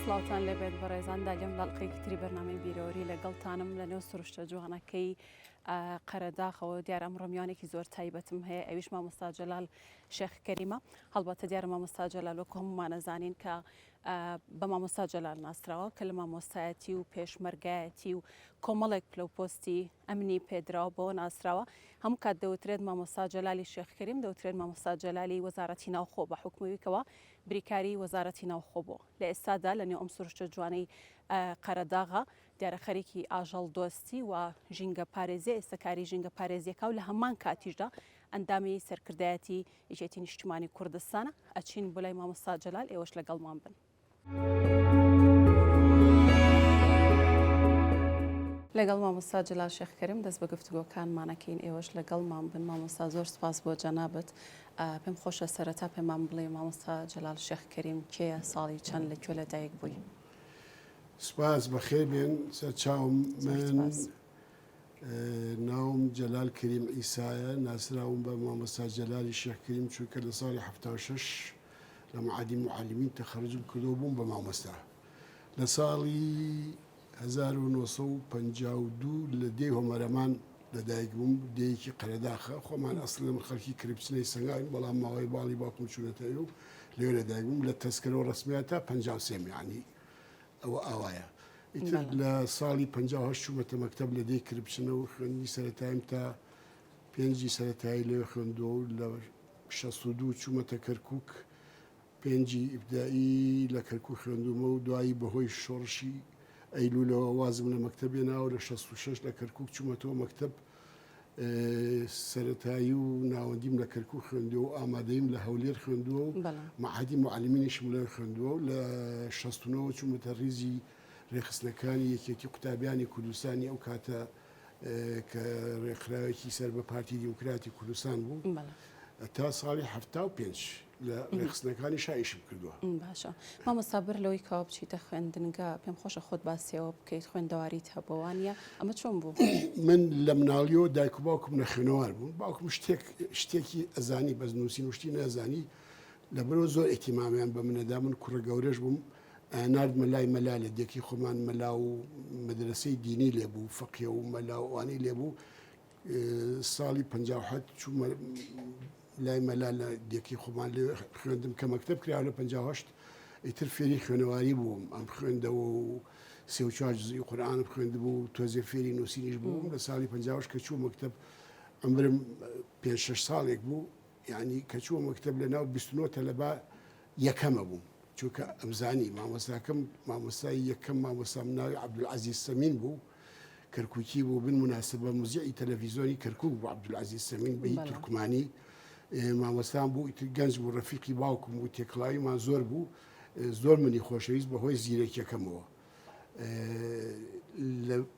سڵاوتان لەبێت بەڕێزان داگەم بەڵقێکی تری بەرنامەی بیرۆری لەگەڵتانم لە نێو سروشتە جوانەکەی قەرەداخەوە دیارم ڕمیانێکی زۆر تایبەتم هەیە ئەویش مامۆستا جەلال شێخ کەریمە هەڵبەتە دیارە مامۆستا جەلال وەکو هەمومانە زانین کە بە مامۆستا جەلال ناسراوە کە لە مامۆستایەتی و پێشمەرگایەتی و کۆمەڵێک پلە و پۆستی ئەمنی پێدراوە بۆ ناسراوە هەموو کات دەوترێت مامۆستا جەلالی شێخ کەریم دەوترێت مامۆستا جەلالی وەزارەتی ناوخۆ بە حکومەویکەوە بریکاری وەزارەتی ناوخۆ بوو، لە ئێستادا لەنێو ئەم سروشتە جوانەی قەرەداغە، دیارە خەریکی ئاژەڵدۆستی و ژینگەپارێزیە، ئێستا کاری ژینگەپارێزیەکاو لە هەمان کاتیشدا ئەندامی سەرکردایەتی یەکێتی نیشتیمانی کوردستانە، ئەچین بۆ لای مامۆستا جەلال ئێوەش لەگەڵمان بن. لەگەڵ مامۆستا جلال شێخ کەریم دەست بە گفتوگۆکانمانەکەین ئێوەش لەگەڵمان بن مامۆستا زۆر سپاس بۆ جەنابت پێم خۆشە سەرەتا پێمان بڵێی مامۆستا جەلال شێخ کەریم کێیە ساڵی چەند لە کوێ لە دایک بووی؟ سپاس بەخێر بێن سەرچاوم من سپاس. ناوم جەلال کەریم عیسایە ناسراوم بە مامۆستا جەلالی شێخ کەریم چونکە لە ساڵی هەفتا و شەش لە معادی معلمین تەخەروجم کردەوە بووم بە مامۆستا لە ساڵی هەزار و نۆ سەد و پەنجا و دوو لە دێی هۆمەرەمان لە دایک بووم، دێیەکی قەرەداخە، خۆمان ئەسڵی من خەڵکی کرپچنەی سەنگاوین بەڵام ماوەی باڵی باوکم چوونەتە ئێو لەوێ لە دایک بووم لە تەسکەرە و ڕەسمیات تا پەنجا و سێ میانی ئەوە ئاوایە ئیتر لە ساڵی پەنجا و هەشت چوومەتە مەکتەب لە دێی کرپچنە و خوێندنی سەرەتایم تا پێنجی سەرەتایی لەوێ خوێندووە و لە شەست و دوو چوومەتە کەرکووک پێنجی ئیبتدائی لە کەرکوک خوێندوومە و دوایی بەهۆی شۆڕشی ئەیلولەوە وازم لە مەکتەب هێنا و لە شەست و شەش لە کەرکوک چوومەتەوە مەکتەب. سەرەتایی و ناوەندیم لە کەرکوک خوێندووە و ئامادەییم لە هەولێر خوێندووە و مەعهەدی موعەلیمینیشم لەوێ خوێندووە و لە شەست و نۆ وە چوومەتە ریزی رێکخستنەکانی یەکێتی قوتابیانی کوردستانی ئەو کاتە کە رێکخراوێکی سەر بە پارتی دیموکراتی کوردستان بوو تا ساڵی حەفتا و پێنج. لە ڕێکخستنەکانی شا ئیشم کردووە. باشە مامۆستا بەر لەوەی کەوا بچیتە خوێندنگە پێم خۆشە خۆت باسیەوە بکەیت خوێندەواریت هەبووە وانە ئەمە چۆن بوو؟ من لە مناڵیەوە دایک و باوکم نەخوێنەوار بوون باوکم شتێک شتێکی ئەزانی بەس نووسین وشتی نازانی لەبەرەوە زۆر ئەتیمامیان بە منەدا من کوڕە گەورەش بووم نردمە لای مەلا لە دێکی خۆمان مەلا و مەدرسەی دینی لێبوو فەقێ و مەلاوانی لێبوو ساڵی پەنجا و حەوت چوومە لای مەلا لە دێکی خۆمان لێ خوێندم کە مەکتب کرا لە پەنجا و هەشت ئیتر فێری خوێنەواری بووم ئەم خوێندەوە و سێ و چوار جزئی قورئان خوێندبوو تۆزێ فێری نووسینیش بووم لە ساڵی پەنجا و هەشت کە چوو مەکتب عەمرم پێ شەش ساڵێک بوو یعنی کە چووە مەکتب لە ناو بیست و نۆ تەلەبە یەکەمە بووم چونکە ئەمزانی مامۆستاکەم مامۆستای یەکەم مامۆستام ناوی عەبدولعەزیز سەمین بوو کەرکوکی بوو بن مناسبە مزیعی تەلەڤیزۆنی کەرکک بوو عبدولعزیز سەمین بەی تورکمانی مامۆستان بوو ئیتر گەنج بوو ڕەفیقی باوکم بوو تێکڵاویمان زۆر بوو زۆر منی خۆشەویست بەهۆی زیرەکیەکەمەوە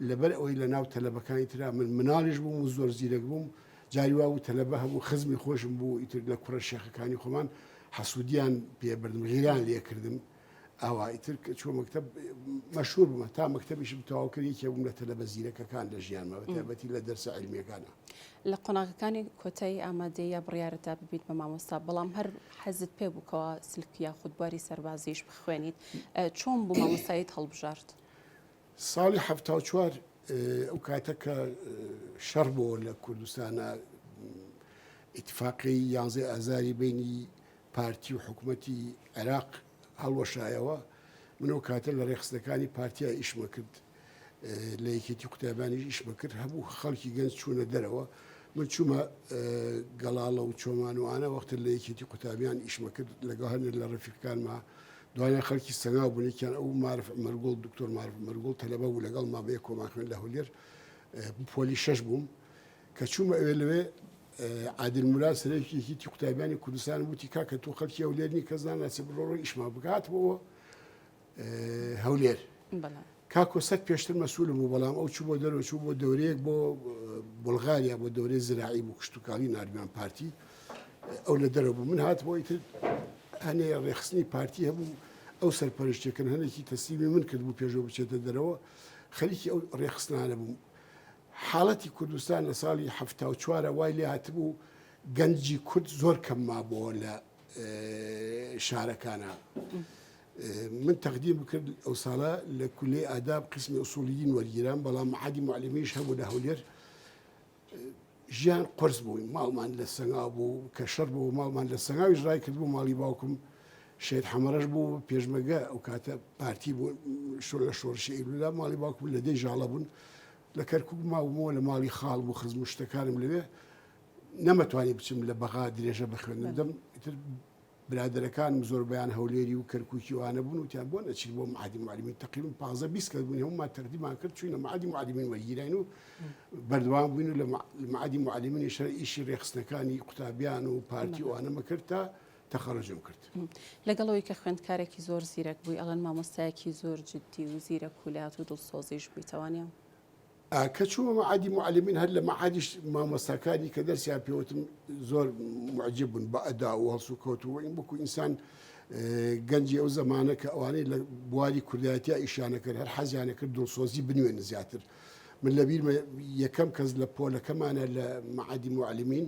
لەبەر ئەوەی لە ناو تەلەبەکانی تررا من مناڵش بووم و زۆر زیرەک بووم جاری وا بوو تەلەبە هەبوو خزمی خۆشم بوو ئیتر لە کوڕە شێخەکانی خۆمان حەسوودیان پێبردم غیران لێکردم ئەوا ئیتر کە چووە مەکتەب مەشهوور بوومە تا مەکتەبیشم تەواو کرد یەکێ بووم لە تەلەبە زیرەکەکان لە ژیانمە بە تایبەتی لە دەرسە عیلمییەکانا. لە قۆناغەکانی کۆتایی ئامادەییە بڕیارت دا ببیت بە مامۆستا، بەڵام هەر حەزت پێ بوو کەوا سلک یاخود بواری سەربازییش بخوێنیت، چۆن بوو مامۆستاییت هەڵبژارد؟ ساڵی حەفتا و چوار ئەو کاتە کە شەڕ بۆوە لە کوردستانا، ئیتفاقیی یانزەی ئازاری بەینی، پارتی و حکومەتی عێراق هەڵوەشایەوە، من ئەو کاتە لە رێکخستنەکانی پارتیا ئیشمە کرد، لە یەکێتی قوتابیانیش ئیشمە کرد، هەموو خەڵکی گەنج چوونە دەرەوە، من چوومە گەڵاڵە و چۆمان و ئانا وەختە لە یەکێتی قوتابیان ئیشمە کرد لەگەڵ هەنێک لە رەفیقەکانما، دوایە خەڵکی سەنگاو بوون، یەکیان ئەو مارف عومەرگوڵ، دکتۆر مارف عومەرگوڵ تەلەبە بوو لەگەڵما بەیەک کۆمان خوێند لە هەولێر، پۆلی شەش بووم. کە چوومە ئەوێ لەوێ عادل موراد سەرۆکی یەکیتی قوتابیانی کوردستان وتی کاکە تۆ خەلکی ئەو لێرنی کەس ناناسی بڕۆ ڕۆ ئیشمان بگات بۆ هەولێر کاکۆ سەک پێشتر مەسول بوو بەڵام ئەو چوو بۆ دەرەوە چوو بۆ دەورەیەک بۆ بلغاریا بۆ دەورەی زراعی بوو کشتتوکاڵی نردوان پارتی ئەو لە دەرە بوو من هات بۆی تر هەنێ ڕێخستنی پارتی هەبوو ئەو سەرپەرشتێکن هەنێکی تەسلیمی من کرد بوو پێشەوە بچێتە دەرەوە خەریکی ئەو ڕێخستانە بوو حاڵەتی کوردستان لە ساڵی حەفتا و چوار وای لێ هاتبوو گەنجی کورد زۆر کەم مابۆوە لە شارەکانە من تەقدیم بکرد ئەو ساڵە لە کولی ئاداب قسمی ئوسولیدین وەرگیران بەڵام عادی معلمیش هەبوو لە هەولێر ژیان قرس بووین ماڵمان لە سەنگا بوو کە شەر بوو ماڵمان لە سەنگاویش ڕای کرد بوو ماڵی باوکم شێت حەمەڕەش بوو پێشمەرگە ئەو کاتە پارتی بوو شۆ لە شۆڕشی ئەیلولا ماڵی باوکم لە دەی ژاڵە بوون لە کەرکک ماومەوە لە ماڵی خاڵ بوو خزم و شتەکانم لەوێ نەمەتوانی بچم لە بەغا درێژە بخوێنم دەم برادەرەکان زۆربیان هەولێری و کەرککی وانە بوون وتیان بۆ نەچیت بۆ معادی معلمی تقیم پازە بیست کە بوون هەمومان تەردیمان کرد چوینە معادی معلمین وەگیرین و بەردوام بووین و لە معادی معلمینی شەر ئیشی ڕێخستنەکانی قوتابیان و پارتی وانەمە کرد تا تەخەرروجم کرد. لەگەڵ ئەوەی کە خوێندکارێکی زۆر زیرەک بووی، ئەڵێن مامۆستایەکی زۆر جددی و زیرەک و لات و دڵسۆزیش بووی، تەوانیان؟ کە چوومە مەعادی موعەلیمین، هەر لە مەعادیش مامۆستاکانی کە دەرسیان پێوتم زۆر موعجیب بوون بە ئەدا و هەڵسوکەوت و وەین وەکوو ئینسان گەنجی ئەو زەمانە کە ئەوانەی لە بواری کوردایەتیا ئیشیانە کرد هەر حەزیانە کرد دڵسۆزی بنوێن زیاتر. من لە بیرمە یەکەم کەس لە پۆلەکەمانە لە مەعادی موعەلیمین،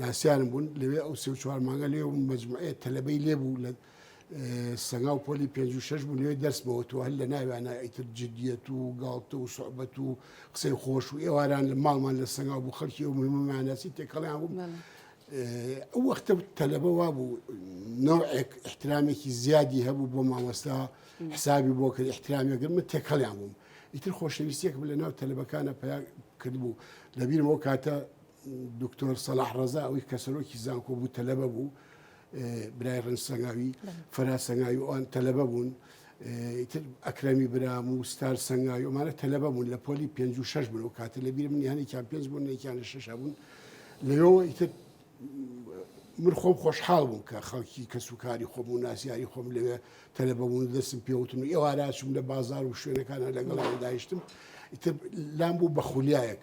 ناسیانم بوون لەوێ ئەو سێ چوار مانگە لێ بووم مجموعەیە تەلەبەی لێ بوو لە سەنگا و پۆلی پێ و شش بوو لێ دەستمەوە تو هەر لە ناویانە ئیتر جدیەت و گاڵتە و سوعبەت و قسەی خۆش و ئێواران لە ماڵمان لە سەنگا بوو خەڵکی و مهمانەسی تێکەڵیان بوو. ئەو وەختە تەلەبە وا بوو نەوەک احترامێکی زیادی هەبوو بۆ مامۆستا حسابی بۆ کرد احترامێکگە من تێکەڵیان بووم ئیتر خۆشەویستێک لە ناو تەلەبەکانە پیا کردبوو لەبیرەوە کاتە دکتۆر سەلاح ڕەزا ئەوی کە سەرۆکی زانکۆ بوو تەلەبە بوو برای ڕنج سەنگاوی فەرا سەنگاوی ئەوان تەلەبە بوون ئەکرەمی برام و ستار سەنگاوی ئەمانە تەلەبە بوون لە پۆلی پێ و شش بن و کاتە لە بیرم نیانێکیان پێنج بوون نێکیان لە شش بوون لەوەوە ئیتر من خۆم خۆشحاڵ بووم کە خەڵکی کەس و کاری خۆم و ناسیاری خۆم لەوێ تەلەبەبوون دەستم پێوتن و ئێواراشم لە بازار و شوێنەکانە لەگەڵ داهشتم ئیتر لام بوو بە خولیایەک.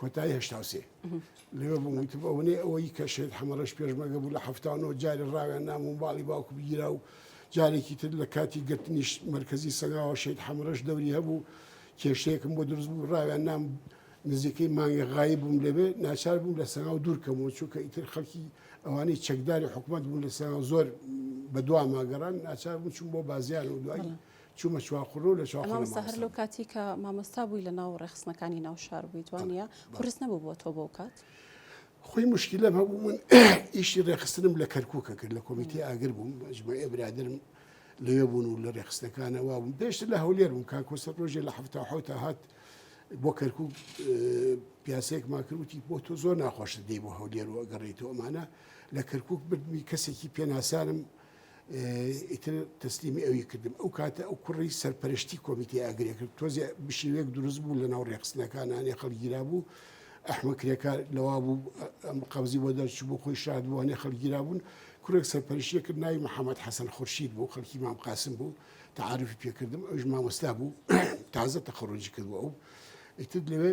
کۆتایی هەشتا و سێ لێوە بووم وتم ئەوەنێ ئەوەی کە شێت حەمەڕەش پێشمەگە بوو لە هەفتانۆ جارە ڕاوێن نامون باڵی باوکو بگیرا و جارێکی تر لە کاتی گرتنیش مرکزی سەنگاوە شێت حەمەڕەش دەوری هەبوو کێشتێکم بۆ دروست بوو ڕاوێن نام نزیکەی مانگە غایی بووم لەبێ ناچار بووم لە سەنگاو دوورکەمەوە چونکە ئیتر خەڵکی ئەوانەی چەکداری حکوومەت بوون لە سەنگاو زۆر بە دوا ماگەڕان ناچار بوو چون بۆ بازیان و دوایی چومە چوار قوڕ و لە چوار قوڕ مامۆستا مامۆستا هەر لەو بووم. کاتی کە مامۆستا بووی لە ناو ڕێخستنەکانی ناو شار بوویت وا بەڵێ نیە؟ بەڵێ قورس نەبوو بۆ تۆ بەو کات؟ خۆی موشکیلەم هەبوو من ئیشی ڕێخستنم لە کەرکوکە کرد لە کۆمیتەی ئاگر بووم مەجموعەی برادەرم لەوێ بوون و لە ڕێخستنەکانە وا بووم پێشتر لە هەولێر بووم کاک کۆسرەت ڕۆژێ لە حەفتا و حەوتا هات بۆ کەرکوک پیاسەیەکمان کرد وتی بۆ تۆ زۆر ناخۆشە دێی بۆ هەولێر و ئەگەڕێیتەوە ئەمانە لە کەرکوک بردمی کەسێکی پێناسانم ئیتر تەسلیمی ئەوی کردم. ئەو کاتە ئەو کوڕی سەرپەرشتی کۆمیتەی ئاگرێ کرد. تۆزێ بشیوێک دروست بوو لە ناو رێکخستنەکان هەنێ خەڵک گیرابوو. ئەحمە کرێکار لەوا بوو ئەم قەبزی بۆ دەرچوو بۆ خۆی شاد بوو هەنێ خەڵک گیرابوون. کوڕێک سەرپەرشتیە کرد ناوی محەمەد حەسەن خورشید بوو خەڵکی مام قاسم بوو. تەعارفی پێ کردم ئەویش مامۆستا بوو تازە تەخەڕوجی کردبوو ئەو. ئیتر لەوێ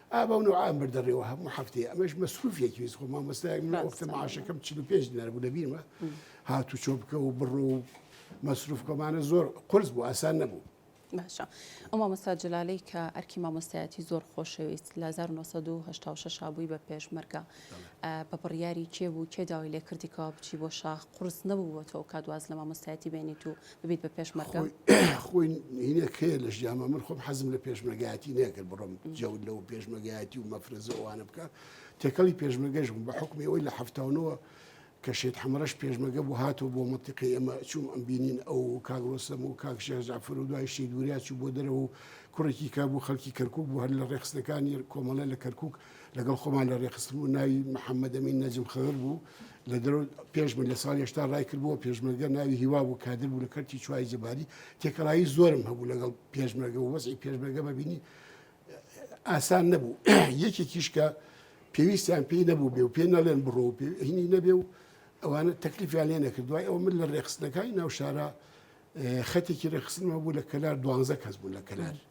ئا بەو نوعام بردەڕێەوە هەموو هەفتەیە ئەمەش مەسروفێکی ویست خۆ مامۆستایەک من وەختە معاشەکەم 45 دینار بوو لەبیرمە هاتو چۆ بکە و بڕۆ و مەسروفکەمانە زۆر قرس بوو ئاسان نەبوو باشە ئەو مامۆستا جلالەی کە ئەرکی مامۆستایەتی زۆر خۆشەویست لە 1970 بووی بە پێشمەرگە بە بڕیاری کێ بوو کێ داوای لێکردیکەوە بچی بۆ شاخ قرس نەبوو بۆ تۆ کاتواز لە مامۆستایەتی بێنیت و ببیت بە پێشمەرگە خۆی هینە کەیە لە ژیانمە من خۆم حەزم لە پێشمەگایەتی نەکرد بڕۆم جەوت لەو پێشمەگایەتی و مەفرەزەوانە بکە تێکەڵی پێشمەگەش بوو بە حکومی ئەوی لە هەفتاونەوە کە شێت حەمەڕەش پێشمەگە بوو هاتۆ بۆ مەتیقی ئەمە چوم ئەم بینین ئەو کاگرۆسەم و کاکشێ جعفر و دوای شی دوریا چوو بۆ دەرەوە و کوڕێکی کا بوو خەڵکی کەرکک بوو هەر لە ڕێخستەکانی کۆمەڵە لە کەرکک لەگەڵ خۆمان لە ڕێخستن و ناوی محەممەدەمین نەجم خەغر بوو لە دەر پێش من لە ساڵ هێشتا ڕای کردبووە پێشمەرگە ناوی هیوا بوو کادر بوو لە کەرتی چوای جەباری تێکەڵایی زۆرم هەبوو لەگەڵ پێشمەرگە و وەزی پێشمەرگە بەبینی ئاسان نەبوو یەکێکیش کە پێویستیان پێی نەبوو بێ و پێ نەڵێن بڕۆ و پێهینی نەبێ و ئەوانە تەکلیفیان لێ نەکرد دوای ئەو من لە ڕێخستنەکانی ناو شارە خەتێکی ڕێخستنەوە بوو لە کەلار دوانزە کەس بوو لە کەلار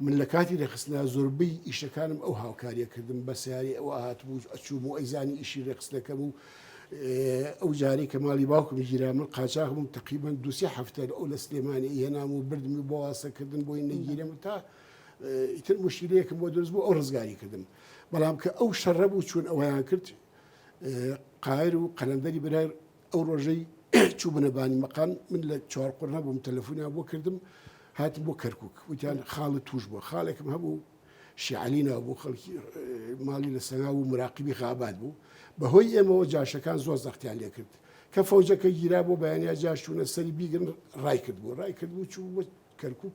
من لە کاتی رێکخستنا زۆربەی ئیشەکانم ئەو هاوکاریە کردم بە سەیارەی ئەو ئەهاتم و ئەچووم و ئەیزانی ئیشی رێکخستنەکەم و ئەو جارەی کە ماڵی باوکم گیرا من قاچاغ بووم تەقریبەن دوو سێ هەفتە ئەو لە سلێمانی ئەیهێنام و بردمی بۆ واسە کردن بۆی نەگیرێم و تا ئیتر مشکلەیەکم بۆ دروست بوو ئەو ڕزگاری کردم بەڵام کە ئەو شەڕە بوو چون ئەویان کرد قایر و قەلەندەری برای ئەو ڕۆژەی چوبنە بانی مەقام من لە چوارقڕنا بووم تەلەفۆنیا بۆ کردم هاتم بۆ کەرکک وتیان خاڵە توش بووە خاڵێکم هەبوو شیعلینا بۆ خەڵکی ماڵی لە سەنا و مراقبی خابات بوو بەهۆی ئێمەوە جاشەکان زۆر زەختیان لێ کرد کە فەوجەکە گیرا بۆ بەیانیا جاشتونە سەری بیگرن ڕای کرد بوو ڕای کرد بوو چوو بۆ کەرکک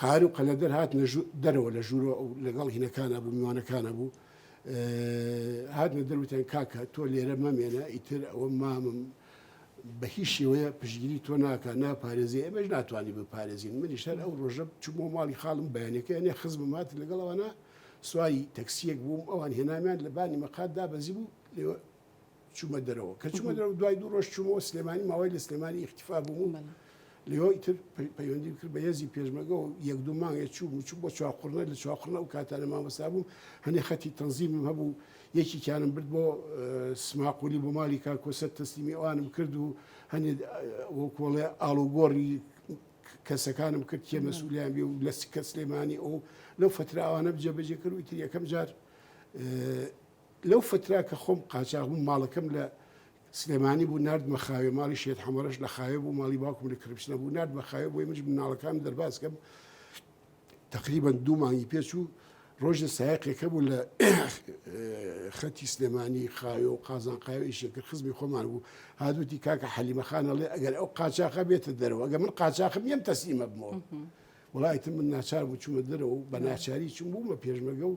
قەهار و قەلەدەر هاتنە ژو دەرەوە لە ژوورەوە ئەو لەگەڵ هینەکانا بوو میوانەکانا بوو هاتنە دەر وتیان کاکە تۆ لێرە مەمێنە ئیتر ئەوە مامم بە هیچ شێوەیە پشگیری تۆ ناکە ناپارێزی ئێمەش ناتوانانی بپارێزین منیش هەر ئەو ڕۆژە چوومەوە ماڵی خاڵم بەیانەکە هێنێ خزمم هات لەگەڵ ئەوانە سواری تەکسیەک بووم ئەوان هێنامیان لە بانی مەقاتدا بەزی بوو لێوە چوومە دەرەوە کە چوومە دەرەوە دوای دوو ڕۆژ چوومەوە سلێمانی ماوەی لە سلێمانی ئیختیفا بووم لەوە ئیتر پەیوەندی کرد بە هێزی پێشمەگەەوە یەک دوو مانگێ چوو چوو بۆ چواقڕنە لە چواقڕنە و کاتانە مامەسا بووم هەنێ خەتی تەنزیمم هەبوو یەکی کیانم برد بۆ سماقولی بۆ مالی کاکۆسە تەسلیمی ئەوانم کرد و هەنێ وەکۆڵێ ئاڵوگۆڕی کەسەکانم کرد کێ مەسوولیان بێ و لە کە سلێمانی ئەو لەو فتراوانە بجێبەجێ کرد و ئیتر یەکەم جار لەو فترە کە خۆم قاچاغ بووم ماڵەکەم لە سلێمانی بوو ناردمە خاوێ ماڵی شێت حەمەڕەش لە خاوێ بوو ماڵی باوکم لە کرپشنە بوو ناردمە خاوێ بۆی مژ مناڵەکان دەرباز کەم تقریبا دوو مانگی پێچوو ڕۆژە سایقێکە بوو لە خەتی سلێمانی خاوێ و قازان قاوێ ئیشێکرد خزمی خۆمان بوو هادوتی کاکە حەلیمەخانەڵێ ئەگەر ئەو قاچاقە بێتە دەرەوە ئەگە من قاچاقم یەم تەسیمە بمەوە وڵایتم من ناچار بوو چوومە دەرەوە بە ناچاری چوم بوومە پێشمەگە و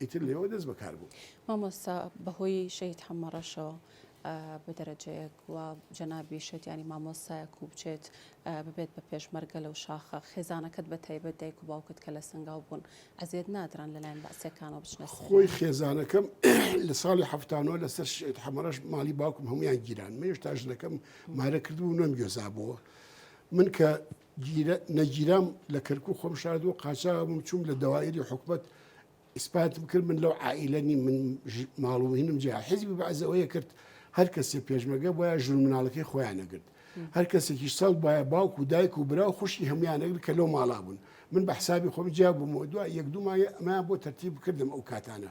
ئیتر لێوە دەست بەکار بوو. مامۆستا بەهۆی شەهید حەمە ڕەشەوە بە دەرەجەیەک وا جەنابی شێت یانی مامۆستایەک و بچێت ببێت بە پێشمەرگە لەو شاخە خێزانەکەت بە تایبەت دایک و باوکت کە لە سەنگاو بوون ئەزیەت نادران لەلایەن بەعسیەکانەوە بچنە سەر خۆی خێزانەکەم لە ساڵی هەفتانەوە لەسەر شێت حەمەڕەش ماڵی باوکم هەمویان گیران مێش تا ژنەکەم مارە کردبوو نەم گوێزابەوە من کە گیرە نەگیرام لە کەرکوک خۆم شاردووە قاچاغ بووم چووم لە دەوایری حکومت ئیسپاتم کرد من لەو عائیلە نیم من ژ- ماڵ و مهینم جیا حیزبی بەعز ئەوەیە کرد هەر کەسێ پێشمەگە بایە ژن و مناڵەکەی خۆیان نەگرت هەر کەسێکیش سەڵ بایە باوک و دایک و برا و خوشکی هەمویان نەگرت کە لەو ماڵا بوون من بە حسابی خۆم جیا بوومەوە دوای یەک دوو مایە ئەمەیان بۆ تەرتیب کردم ئەو کاتانە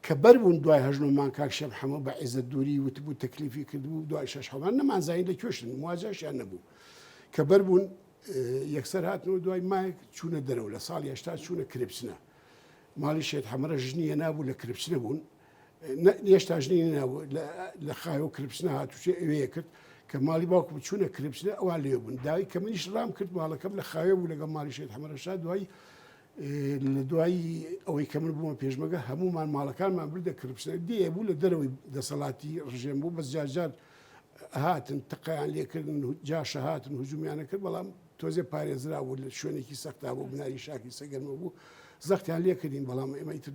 کە بەر بوون دوای هەژنۆمان کاک شێخ محەمەد بە عێزەت دووری وتبوو تەکلیفی کردبوو دوای شەش حەوان نەمانزانی لە کوێشن مواجهشیان نەبوو کە بەر بوون یەکسەر هاتنەوە دوای مایک چوونە دەرەوە لە ساڵی هشتا چوونە کرپچنە ماڵی شێت حەمرە ژنیە نابوو لە کرپچنە بوون هێشتا ژنی نابوو لە خایەوە کرپچنە هاتوچێ ئەوەیە کرد کە ماڵی باوکو بچوونە کرپچنە ئەوان لێ بوون داوی کە منیش ڕام کرد ماڵەکەم لە خاوێ بوو لەگە ماڵی شێت حەمرەشا دوای لە دوای ئەوەی کە من بوومە پێشمەگە هەموومان ماڵەکانمان بردە کرپشنە دێ بوو لە دەرەوەی دەسەڵاتی ڕژێم بوو بەس جارجار هاتن تقیان لێکردن جاشە هاتن هجومیانە کرد بەڵام تۆزێ پارێزرا بوو لە شوێنێکی سەختا بۆ بناری شاکی سەگەرمە بوو زەختیان لێ کردین بەڵام ئێمە ئیتر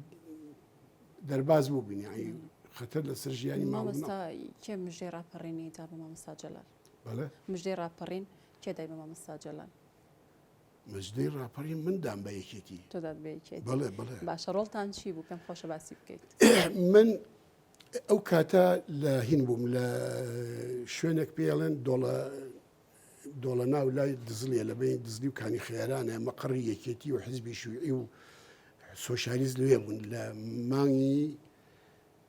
دەرباز بوو بینیایی خەتەر لەسەر ژیانی مامۆستا کێ مژێ ڕاپەڕینی دا بە مامۆستا جەلال بەڵێ مژێ ڕاپەڕین کێ دای بە مامۆستا جەلال مەزنەی ڕاپەڕین من دام بە یەکێتی تۆ داد بە یەکێتی بەڵێ بەڵێ باشە ڕۆڵتان چی بوو پێم خۆشە باسی بکەیت من ئەو کاتە لە هین بووم لە شوێنێک پێڵێن دۆڵە دۆڵە ناو لای دزلیە لە بین دزلی و کانی خێرانە مەقڕی یەکێتی و حزبی شوعی و سۆشالیز لێ بوون لە مانگی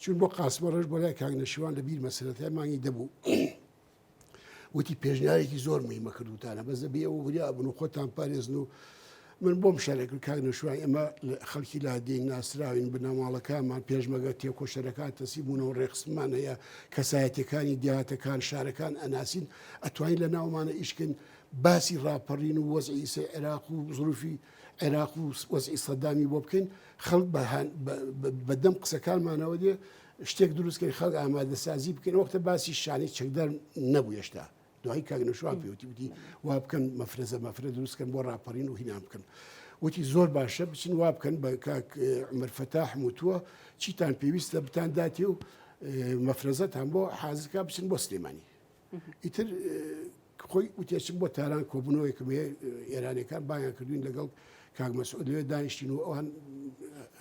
چووین بۆ قاسمە ڕەش بۆ لای کاک نەشیوان لە بیرمە سەرەتای مانگی دەبوو وتی پێشنیارێکی زۆر مهمە کردوتانە بەس دەبێ ئەوە وریا بن و خۆتان پارێزن و من بۆم شارێکرد کاک نەشوان ئێمە خەڵکی لادین ناسراوین بنەماڵەکانمان پێشمەگە تێکۆشەرەکان تەسی بوون و ڕێخسمان هەیە کەسایەتەکانی دیاتەکان شارەکان ئەناسین ئەتوانین لە ناومانە ئیشکن باسی ڕاپەڕین و وەزعیسە عێراق و زروفی عێراق و وەزعی سەدامی بۆ بکەین خەڵک بە دەم قسەکانمانەوە دێ شتێک دروستکەین خەڵک ئامادە سازی بکەین وەختە باسی شانی چەکدار نەبوو هێشتا دوای کاگنەشوان پێوتی وتی وا بکەن مەفرەزە مەفرە دروستکەن بۆ ڕاپەڕین و هینان بکەن. وتی زۆر باشە بچین وا بکەن بە کاک عمرفەتا حموتووە چیتان پێویستە بتان داتێ و مەفرەزەتان بۆ حازکە بچن بۆ سلێمانی ئیتر خۆی وتێچک بۆ تاران کۆبوونەوەی کە ئێرانەکان بایان کردوین لەگەڵ کاک مەسعود لێ دانیشتین و ئەوان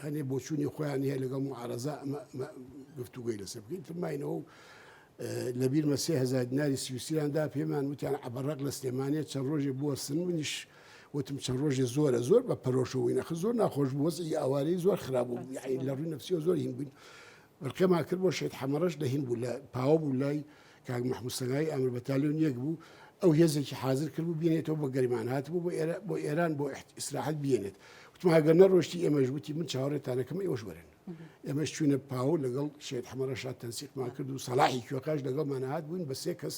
هەنێ بۆچوونی خۆیان هەیە لەگەڵ معارەزا ئەمە گفتوگوی لەسەر بکەین ترماینەوە و لە بیرمە سێ هزار دیناری سویسیاندا پێمان وتیان عبرەق لە سلێمانێت چەند ڕۆژێ بووە سن منیش وتم چەند ڕۆژێ زۆرە زۆر بە پەرۆشەوەی نەخ زۆر ناخۆش بووەز ئەوارەی زۆر خراپ بوو لە ڕووی نفسیەوە زۆر هین بووین بەرقەمان کرد بۆ شێت حەمەڕەش لە هین بوو لە پاوە بوو لای کاک محمود سەنایی ئامر بەتالیۆن یەک بوو ئەو هێزێکی حازر کرد و بینێتەوە بۆ گەریمان هات بوو بۆ ئێرە بۆ ئێران بۆ ئیسراحەت بینێت وتم هەگەر نەڕۆشتی ئێمەش وتی من چاوەڕێتانەکەم ئێوەش وەرن ئێمەش چوینە پاوە لەگەڵ شێت حەمەڕەشات تەنسیقمان کرد و سەلاحی کوێقاش لەگەڵمان هاات بووین بە سێ کەس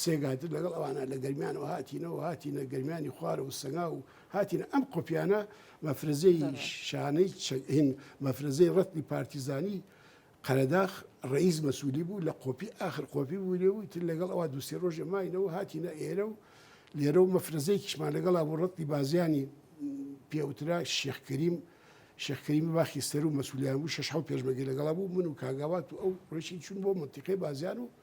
سێگاتر لەگەڵ ئەوانە لە گەرمیانەوە هاتینەوە هاتینە گەرمیانی خوارە و سەنگا و هاتینە ئەم قوپیانە مەفرەزەی شانەی چەین مەفرەزەی ڕەتنی پارتیزانی قەرەداخ ڕئیس مەسوولی بوو لە قۆپی ئاخر قۆپی بوو لێ و تر لەگەڵ ئەوە دوسێ ڕۆژە ماینەوە هاتینە ئێرە و لێرە و مەفرەزەی کیشمان لەگەڵا بۆ ڕەتی بازیانی پێوترا شێخکریم شێخکەریمی باخی سەر و مەسولیان بوو شەش حو پێشمەگەی لەگەڵا بوو من و کاگاوات و ئەو ڕێشی چون بۆ منتیقی بازیان و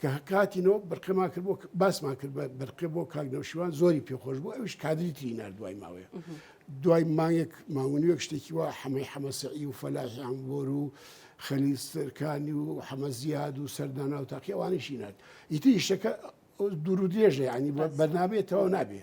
کە هاتینەوە بەرقەمان کرد باسمان کرد بە بەرقێ بۆ کاک نەوشیوان زۆری پێخۆش بوو ئەوش کادری تری نار دوای ماوەیە دوای مانگێک ماونیوەک شتێکی وا حەمەی حەمەسەعی و فەلاحیان بۆر و خەلیستەکانی و حەمەزیاد و سەردانا و تاقی ئەوانیشی نات ئیتی شتەکە دوور و درێژە ینی بەرنمەیە تەواو نابێ.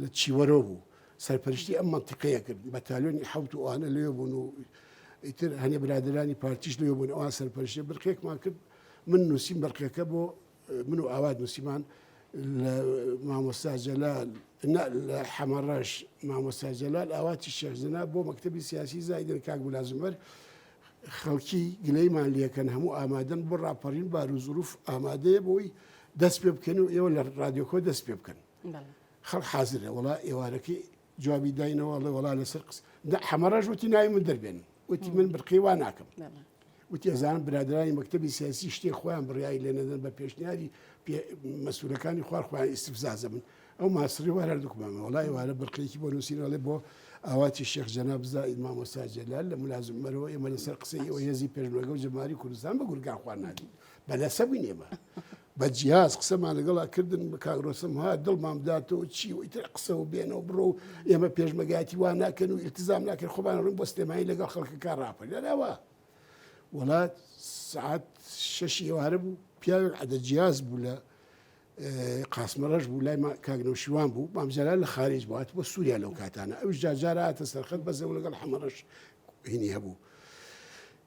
لە چیوەرۆ بوو سەرپەرشتی ئەم مەنتیقەیە کرد بەتالیۆنی حوت و ئەوانە لەوێ بوون و ئیتر هەنێ برادرانی پارتیش لەوێ بوون ئەوان سەرپەرشتی برقێکمان کرد من نووسیم بەرقەکە بۆ من و ئاوات نووسیمان لە مامۆستا جەلال لە حەمەڕەش مامۆستا جەلال ئاواتی شێخزنا بۆ مەکتتەبی سیاسی زایدن کاک بلازمەر خەڵکی گلەیمان لەکەن هەموو ئامادەن بۆ ڕاپەڕین بار و زروف ئامادەیە بۆی دەست پێ بکەن و ئێوە لە ڕادیۆکۆ دەست پێ بکەن خەڵک حازرە وەڵا ئێوارەکەی جوابی داینەوە ئەڵێ وەڵا لەسەر قس حەمەڕەش وتی ناوی من دەربێن وتی من برقی وا ناکەم وتی ئەزان برادرانی مەکتتەبی سیاسی شتێ خۆیان بڕیایی لێ نەدەن بە پێشنیاری مەسوولەکانی خوار خۆیان ئیسفزازە من ئەو ماسری وار هەردووکمانە وڵی وارە برقێکی بۆ نووسینەڵێ بۆ ئاواتی شێخ جەنا بزا ئیمامۆستا جەلال لە ملازم مەرەوە ئێمە لەسەر قسەی ئەوە هێزی پێشمەگە و جەماری کوردستان بە گورگان خوارناتی بە لەسە بووین ئێمە بە جیهاز قسەمان لەگەڵ ئەکردن بە کاک ڕۆستەم ها دڵمام داتەوە چی و ئیتر قسە و بێنە و بڕۆ و ئێمە پێشمەرگایەتی وا ناکەن و ئیلتزام ناکەن خۆمان ڕووین بۆ سلێمانی لەگەڵ خەڵکەکە ڕاپەر لەلاوە وڵا سعات شەشی ئێوارە بوو پیاوێک عەدە جیاز بوو لە قاسمەڕەش بوو لای ما- کاک نەوشیوان بوو مامجەلا لە خارج بوو هاتبووە سووریا لەو کاتانە ئەوش جاجارە هاتە سەرخەت بەزەوە لەگەڵ حەمەڕەش هینی هەبوو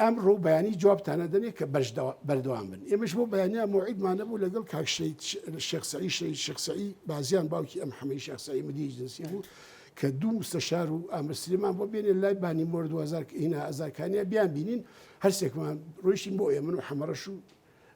ئەمڕۆ و بەیانی جوابتان ئەدەنێ کە بەردەوام بن ئێمەش بۆ بەیانیان موعیدمان نەبوو لەگەڵ کاک شێخ سەعید شەهید شێخ سەعید بازیان باوکی ئەم حەمەی شێخ سەعید مدیری جنسی بوو کە دوو مستەشار و ئامر سلێمان بۆ بێنێ لای بانی مۆر 2000 هینا ئازارکانیا بیان بینین هەرسێکمان ڕۆیشتین بۆ ئێمن و حەمەڕەش و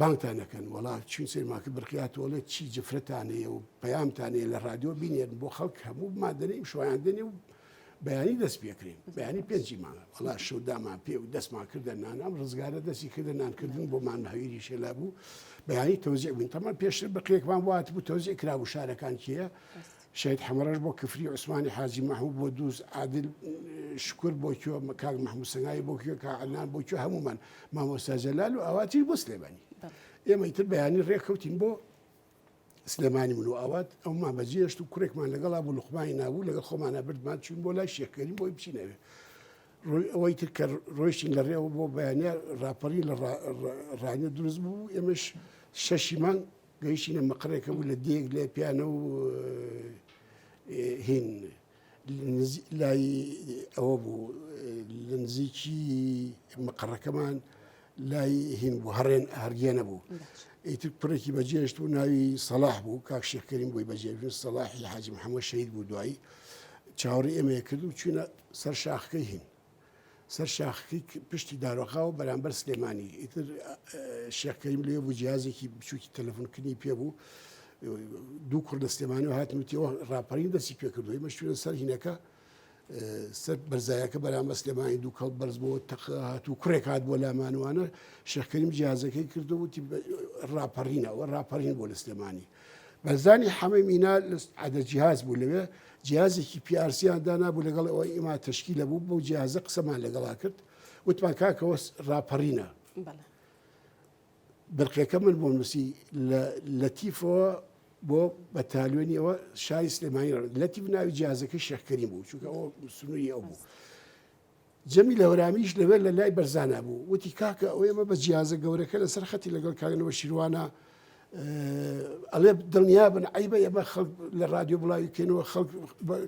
بانگتان ئەکەن وەڵا چوین سینماکە برقیاتۆڵێت چی جفرەتانەیە و پەیامتانەیە لە رادیۆ بینێن بۆ خەڵک هەموو مادەنەی شویان دێنێ و بەیانی دەست پێکرین بەیانی پێنجی مانگە وڵا شودامان پێ و دەستمان کردە نانام ڕزگارە دەستی کردە نانکردن بۆمان هەویری شێلا بوو بەیانی تۆزیع بووین تەمان پێشتر بەقێکمان وات بوو تۆزیع کرا و شارەکان کێە شەهید حەمەڕەش بۆ کفری عوسمانی حاجی مەحمود بۆ دووز عادل شکور بۆ کوێ کاک مەحمود سەنگاوی بۆ کوێ کا عەدنان بۆ کوێ هەموومان مامۆستا جەلال و ئاواتیش بۆ سلێمانی ئێمە ئیتر بەیانی ڕێککەوتین بۆ سلێمانی من و ئاوات ئەومان بەجێشت و کوڕێکمان لەگەڵا بوو لوقمانی نابوو لەگەڵ خۆمانە بردمان چوین بۆ لای شێکەری بۆی بچینەوێ ڕووی ئەوەی تر کە ڕۆیشتین لە ڕێەوە بۆ بەیانە راپەڕی لە ڕانە دروست بوو ئێمەش شەشیمان گەیشتینە مقڕێک بوو لە دێک لێ پیانە و هین لای ئەوە بوو لە نزیکی مقڕەکەمان لای هین بوو هەڕێن هەرگێنە بوو ئیتر کوڕێکی بەجێشت و ناوی سەلاح بوو کاک شێخکەریم بووی بەجێژن سەلاحی حاجم حەمە شەید بوو دوایی چاوەڕی ئێمەیە کرد و چینە سەر شاخەکەی هین سەر شاخەکەی پشتی دارۆخاوە بەرامبەر سلێمانی ئیتر شێخ کەریم لێ بوو جیازێکی بچووکی تەلەفۆنکردنی پێ بوو دوو کوڕ لە سلێمانی و هاتنوتیەوە ڕاپەرین دەستی پێ کردوی مەشتوێن سەر هینەکە سەر بەرزایەکە بەرامبەر سلێمانی دوو کەڵ بەرز بۆ تەق هات و کوڕێک هات بۆ لامانوانە شێخ کەریم جیازەکەی کردو وتی ڕاپەڕینەوە ڕاپەڕین بۆ لە سلێمانی بەرزانی حەمەی مینا لە عەدە جیهاز بوو لەوێ جیازێکی پیارسییان دانابوو لەگەڵ ئەوە ئیما تشکی لە بوو بەو جیازە قسەمان لەگەڵا کرد وتمان کاکەوە راپەڕینە برقەکە من بۆ نووسی لە تیفەوە بۆ بەتالوێنی ئەوە شای سلێمانی لەتی بناوی جیازەکە شەکەری بوو چونکە ئەو سنووری ئەو بوو. جەمیل هەورامیش لەوێ لە لای بەرزانا بوو، وتی کاکە ئەوەی ئەمە بە جیازە گەورەکە لە سەر خەتی لەگەڵ کاک نەوشیروانە ئەڵێ دڵنیابن عیبە ئێمە خەڵک لە رادیۆ بڵاوی کەینەوە خەڵک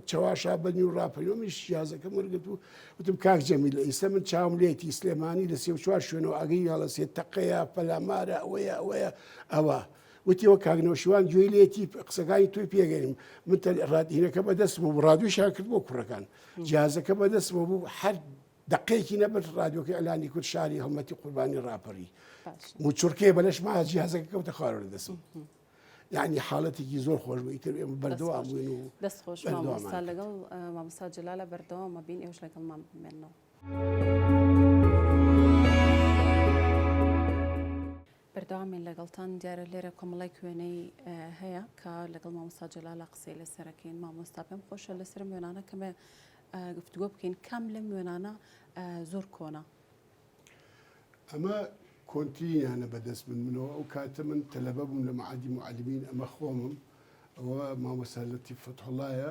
چەواشا بەنی و راپەیۆمیش شیازەکە مرگت و وتم کاک جەمی لە ئیستا من چاوم لێتی سلێمانی لە سێ چوار شوێنەوە ئەگەی هەڵە سێ تەقەیە پەلامارە ئەوەیە ئەوەیە ئەوە وتیەوە کاگنەوشیوان گوێی لێتی قسەکانی توی پێگەریم من رادینەکە بەدەست بوو رادوشان کرد بۆ کوڕەکان جیهازەکە بەدەستمە بوو هەر دقەیەکی نەبەر ڕادیۆکە ئەلانی کورد شاری هەڵمەتی قوربانی ڕاپەڕی موچورکەیە بەلەش ما جیهازەکە کەوتە خوارە دەسم. یعنی حاڵەتێکی زۆر خۆش بووی تر ئێمە بەردەوام بووین و دەست خۆش مامۆستا لەگەڵ مامۆستا جلالە بەردەوامە بین ئێوش لەگەڵمان بمێنەوە. بەردەوامین لەگەڵتان دیارە لێرە کۆمەڵیک وێنەی هەیە کە لەگەڵ مامۆستا جەلالە قسەی لەسەرەکەین مامۆستا پێم خۆشە لەسەرم وێنانە کەمێ گفتگۆ بکەین کام لەم وێنانە زۆر کۆنە ئەمە کۆنترینیانە بەدەست من منەوە ئەو کاتە من تەلەبە بووم لە معادی معلمین ئەمە خۆمم ئەوە مامۆستا لەتیف فەتحوڵایە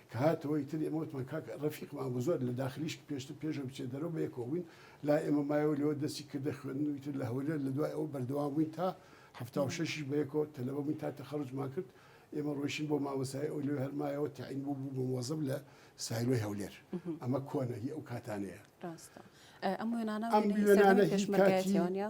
کە هاتەوە ئیتر ئێمە وتمان کاک ڕەفیق مام و زۆر لە داخلیش پێشتر پێشەوە بچێت دەرەوە بە یەکەوە بووین لای ئێمە مایەوە لەوە دەستی کردە خوێندن و ئیتر لە هەولێر لە دوای ئەوە بەردەوام بووین تا هەفتا و شەشیش بە یەکەوە تەلەبە بووین تا تەخەروجمان کرد ئێمە ڕۆیشتین بۆ مامۆستایی ئەو لەوێ هەر مایەوە تەعین بوو بوو بە مۆزەب لە سایلۆی هەولێر ئەمە کۆنە هی ئەو کاتانەیە ڕاستە ئەم وێنانە ئەم وێنانە وێنەی هی کاتی پێشمەرگایەتیەوە نیە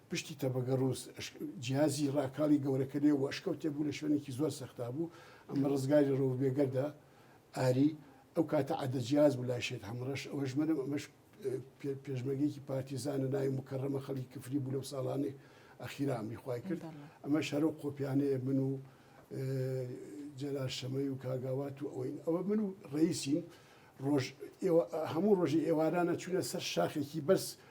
پشتی تەبەگە ڕووس جیازی ڕاکاڵی گەورەکە لێ و ئەشکەوتێ بوو لە شوێنێکی زۆر سەختا بوو ئەمە ڕزگاری ڕەوف بێگەردە ئاری ئەو کاتە عادە جیاز بوو لای شێت هەمڕەش ئەوەش منم ئەمەش پێشمەگەیەکی پارتیزانە ناوی مکەڕەمە خەڵی کفری بوو لەو ساڵانێ ئەخیرا ئەمری خوای کرد ئەمە شەرە و قۆپیانەیە من و جەلال شەمەی و کاگاوات و ئەوین ئەوە من و ڕئیسین ڕۆژ هەموو ڕۆژی ئێوارانە چوونە سەر شاخێکی بەس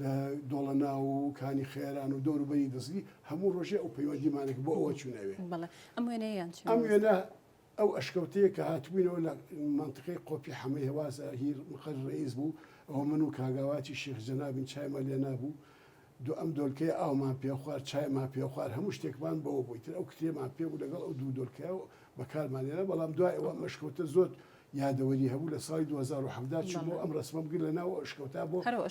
لە دۆڵەناو و کانی خەیران و دەور و بەری دزگی هەموو ڕۆژێ ئەو پەیوەندیمانە کە بۆ ئەوە چوونەوێ. بەڵێ. ئەم وێنەیە یان چ؟ ئەم وێنە ئەو ئەشکەوتەیە کە هاتبووینەوە لە مەنتقەی قۆپی حەمەی هەوازە هیر مقەر ڕەئیس بوو، ئەوە من و کاگاواتی شێخ جەنابین چایمان لێ نابوو. دو ئەم دۆلکەیە ئاومان پێ خوار، چایمان پێ خوار، هەموو شتێکمان بەوە بوو. ئیتر ئەو کتێبەمان پێ بوو لەگەڵ ئەو دوو دۆلکەیە و بە کارمان هێنا، بەڵام دوای ئەوە ئەم ئەشکەوتە زۆر یادەوەری هەبوو لە ساڵی دوو هەزار و حەڤدە چووم و ئەم ڕەسمەم گرت لە ناو ئەشکەوتە بۆ هەر ئەو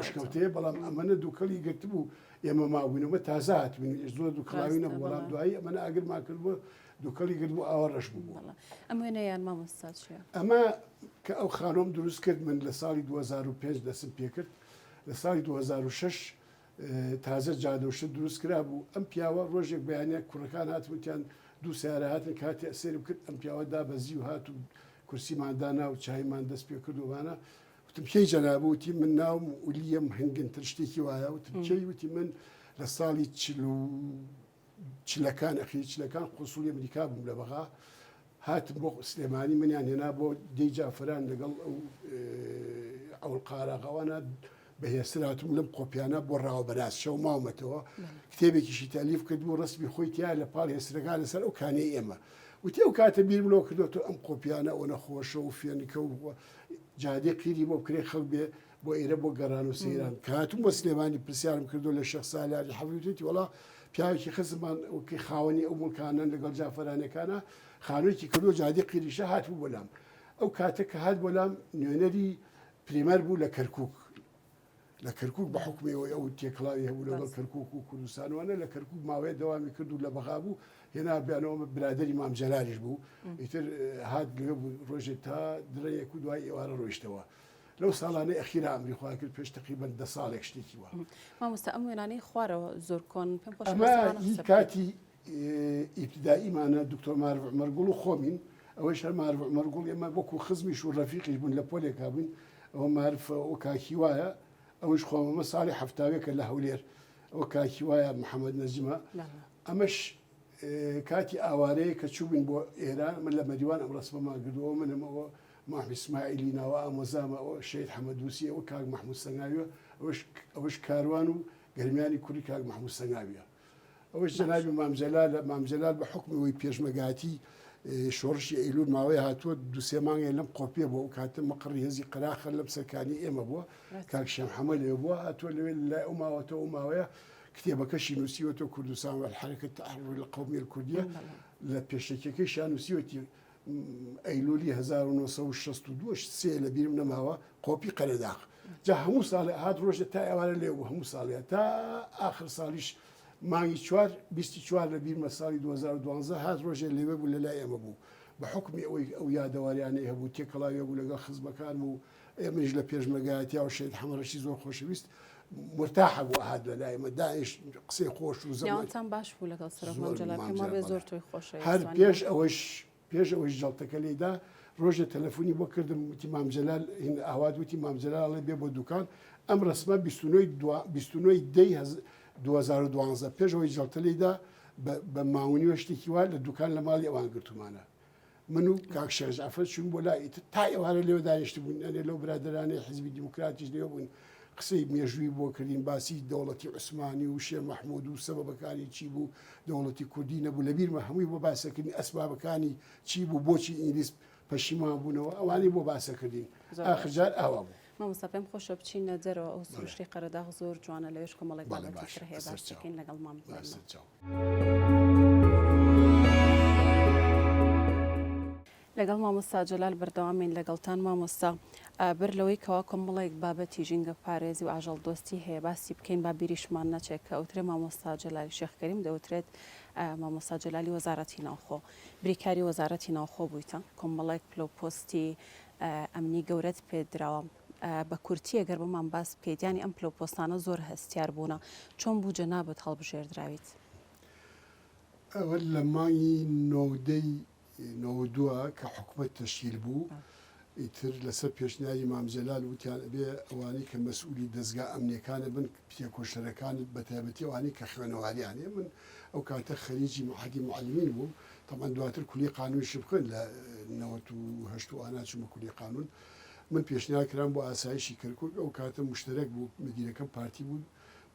ئەشکەوتەیە بەڵام ئەمەە دووکەڵی گرتبوو ئێمە مابووینەوە تازە هاتبووین ئێش زۆر دووکەڵاوی نەبوو بەڵام دوایی ئەمەە ئاگرمان کردبوو دووکەڵی گرت بوو ئاوا ڕەش بوو ئەم وێنە یان مامۆستا چیە ئەمە کە ئەو خانۆم دروست کرد من لە ساڵی 2005 دەسم پێکرد لە ساڵی 2006 تازە جادەوشە دروست کرابوو ئەم پیاوە ڕۆژێک بەیانە کوڕەکان هاتوتیان دوو سیارە هاتن کاتی ئەسێرم کرد ئەم پیاوە دابەزی و هات و کورسیماندا ناو چایمان دەست پێ کردوانە وتم کێی جەنابوتی من ناوم ولیەم هەنگن تر شتێکی وایە وتم کێی وتی من لە ساڵی چلو چلەکان ئەخیر چلەکان قونسوڵی ئەمریکا بووم لە بەغا هاتم بۆ سلێمانی منیان هێنا بۆ دەی جافران لەگەڵ ئەو ئەو قاراغەوانە بەهێستراتم لەم قۆپیانە بۆ ڕاوە بەناس شەو ماومەتەوە کتێبێکیشی تالیف کرد و ڕسمی خۆی تیا لە پاڵ هێسترەکان لەسەر ئەو کانەی ئێمە وتی ئەو کاتە بیر بلۆ کردوەوە ئەم قۆپیانە ئەوە نەخۆشە و فێنکە و جادێ قیری بۆ بکرێ خەڵ بێ بۆ ئێرە بۆ گەڕان و سەیران کە هاتووم بۆ سلێمانی پرسیارم کردو لە شێخ سالاری حەفیوتێتی وڵا پیاوێکی خزمان وکی خاوەنی ئەو مڵکانە لەگەڵ جافەرانەکانە خانوێکی کردو جادی قیریشە هاتبوو بۆلام ئەو کاتە کە هات بۆلام نوێنەری پریمەر بوو لە کەرکک لە کەرکک بە حکمەوەی ئەو تێکڵاوی هەبوو لەگەڵ کەرکک و کوردستانوانە لە کەرکک ماوەیە دەوامی کرد و لە بەغا بوو هێنا بیانەوە برادری مام جەلالیش بوو ئیتر هات لێ بوو ڕۆژێ تا درەیەک و دوای ئێوارە ڕۆیشتەوە لەو ساڵانەی ئەخیرا ئەمری خۆیان کرد پێش تقریبەن دە ساڵێک شتێکی وە مامۆستا ئەم وێنانەی خوارەوە زۆر کۆن پێم خۆش ئەمە هی کاتی ئیبتداییمانە دکتۆر مارڤ عمەرگوڵ و خۆمین ئەوەی شەر مارڤ عمەرگوڵ ئێمە وەکو خزمیش و ڕەفیقیش بوون لە پۆلێکا بووین ئەوە مارف و کاکی وایە ئەوش خۆمەمە ساڵی هەفتاوێکە لە هەولێر ئەو کاکی وایە محەممەد نەزیمە ئەمەش کاتی ئاوارەیە کە چوبین بۆ ئێران من لە مەریوان ئەم ڕسمەمان گردەوە منم ئەوە مام ئیسماعیلی ناوە ئامۆزامە ئەوە شەهید حەمەدووسی ئەوە کاک مەحموود سەنگاویە ئەوەش ئەوەش کاروان و گەرمیانی کوڕی کاک مەحموود سەنگاویە ئەوەش جەنابی مام جەلالە مام جەلال بە حوکمی ئەوەی پێشمەرگایەتی شۆڕشی ئەیلول ماوەیە هاتووە دوو سێ مانگێ لەم قۆپیە بووە ئەو کاتە مەقڕی هێزی قەراخە لەم سەرکانی ئێمە بووە کاک شێم حەمە لێ بووە هاتووە لەوێ لای ئەو ماوەتەوە ئەو ماوەیە کتێبەکەشی نووسیوەتەوە کوردستان والحرکة التحرر القومية الكردية لە پێشەکیەکەیشیان نووسیوەتی ئەیلولی هەزار و نۆ سەد و شەست و دوو شت سێ لە بیرم نەماوە قۆپی قەرەداغ جا هەموو ساڵێ هات ڕۆژێ تا ئێوارە لێ بوو هەموو ساڵێ تا ئاخر ساڵیش مانگی چوار بیستی چوار لە بیرمە ساڵی 2012 هات ڕۆژێ لێوێ بوو لە لای ئێمە بوو بە حکمی ئەوەی ئەو یادەواریانەی هەبوو تێکەڵاوێ بوو لەگەڵ خزمەکان بوو ئێمەیش لە پێشمەرگایەتیا و شەید حەمەڕەشی زۆر خۆشەویست مرتاح بوو ئەهات لە لای مە داعش قسەی خۆش و زەمان نێوانتان باش بوو لەگەڵ سەرۆک زۆر مەنجەلابکە مام ما بێ جەلال زۆر بەڵێ. تۆی خۆش هەر ویست پێش وانییە؟ ئەوەش پێش ئەوەش جەڵتەکە لێیدا ڕۆژێ تەلەفۆنی بۆ کردم وتی مام جەلال هین ئاوات وتی مام جەلال ئەڵێ بێ بۆ دوکان ئەم ڕەسمە بیست و نۆ ی دوا بیست و نۆ ی دە ی هەز دوو هەزار و دوانزە پێش ئەوەی جەڵتە لێیدا بە بە ماونی و شتێکی وا لە دوکان لە ماڵی ئەوان گرتوومانە من و کاک شێخ جەعفەر چووین بۆ لای، ئیتر تا ئێوارە لێوە دانیشتبووین، ئەنێ لەو برادەرانەی حیزبی دیموکراتیش لێوە بووین، قسەی مێژووی بۆ کردین، باسی دەوڵەتی عوسمانی و شێر مەحموود و سەبەبەکانی چی بوو، دەوڵەتی کوردی نەبوو، لە بیرمە هەمووی بۆ باسە کردین، ئەسبابەکانی چی بوو، بۆچی ئینگلیز پەشیمان بوونەوە، ئەوانەی بۆ باسە کردین، ئاخر جار ئاوا بوو. مامۆستا پێم خۆشە بچینە دەرەوە ئەو سروشتی قەرەداغ زۆر جوانە لەوێش کۆمەڵێک بابەتی تر هەیە باسی بکەین لەگەڵ مام لەگەڵ مامۆستا جەلال بەردەوامین لەگەڵتان مامۆستا بەر لەوەی کەوا کۆمەڵێک بابەتی ژینگە پارێزی و ئاژەڵ دۆستی هەیە باسی بکەین با بیریشمان نەچێت کە ئەوترێ مامۆستا جەلالی شێخکەریم دەوترێت مامۆستا جەلالی وەزارەتی ناوخۆ بریکاری وەزارەتی ناوخۆ بوویتە کۆمەڵێک پلۆپۆستی ئەمنی گەورەت پێ دراوە. بە کورتی ئەگەر بۆمان باس پێدانی ئەم پلەو پۆستانە زۆر هەستیار بوونە چۆن بوو جەنابت هەڵبژێردراویت؟ ئەوە لە مانگی نۆودەی نۆود دوو کە حکومەت تەشکیل بوو ئیتر لەسەر پێشنیاری مام جەلال وتیان ئەبێ ئەوانەی کە مەسئولی دەزگا ئەمنیەکانە بن تێکۆشەرەکانت بەتایبەتی ئەوانەی کە خوێنەواریان هەیە من ئەو کاتە خەریجی مەعهەدی موعەلیمین بووم تەبعەن دواتر کولیەی قانونیشم خوێند لە نەوەت و هەشت و ئانا چوومە کولیەی قانون من پێشنیار کرام بۆ ئاسایشی کەرکوک ئەو کاتە مشتەرەک بوو مدیرەکەم پارتی بوو